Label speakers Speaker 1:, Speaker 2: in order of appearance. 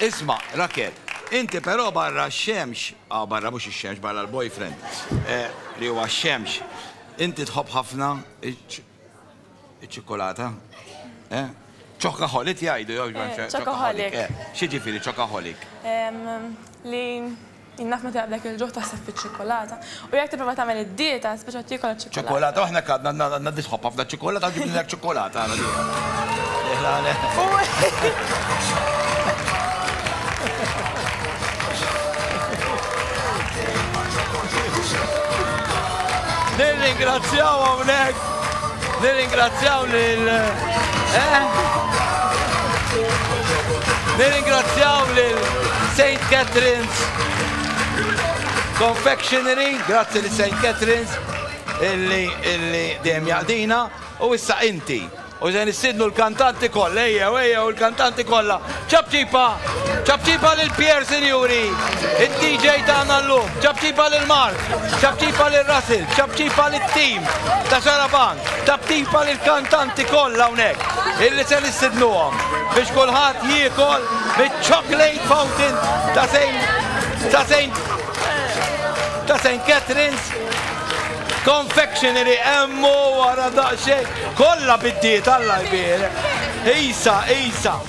Speaker 1: Isma', Raquel, inti però barra x-xemx, aw barra mhux ix-xemx, barra l-boyfriend, li huwa x-xemx, inti tħobb ħafna ċ-ċ-ċikkulata? Chocaholit jgħidu jew chocaholik? Chocaholik.
Speaker 2: X'jiġifieri
Speaker 1: chocaholik?
Speaker 2: Li Jien naf meta jaqbdek il-ġuħ taħseb fiċ-ċikkulata u jekk tipprova tagħmel id-dieta spiċċa tiekol iċ-ċikkulata. Ċikkulata u aħna k'għadna
Speaker 1: għandna dies tħobb ħafna ċ-ċikkulata u ġibnilek ċikkulata ara din. Nirringrazzjaw hawnhekk Nirringrazzjaw lil eh? Nirringrazzjaw lil St. Catherine's Confectionery, grazzi li St. Catherine's illi illi dejjem jaqdina u issa inti. U se nistidnu l-kantanti kollha, ejjew, ejjew, l-kantanti kollha Ċapċipa, ċapċipa lil Pierre sinjuri, id-DJ tagħna llum, ċapċipa lil Mark, ċapċipa lil Russell, ċapċipa lit-tim ta' Xarabank, ċapċipa lill-kantanti kollha hawnhekk illi se nistidnuhom biex kulħadd jiekol miċ-chocolate fountain ta' Sejn ta' Sejn ta' Sejn Catherine's Confectionery hemmu wara daqsxejn kollha biddiet Alla jbierek. Isa, isa.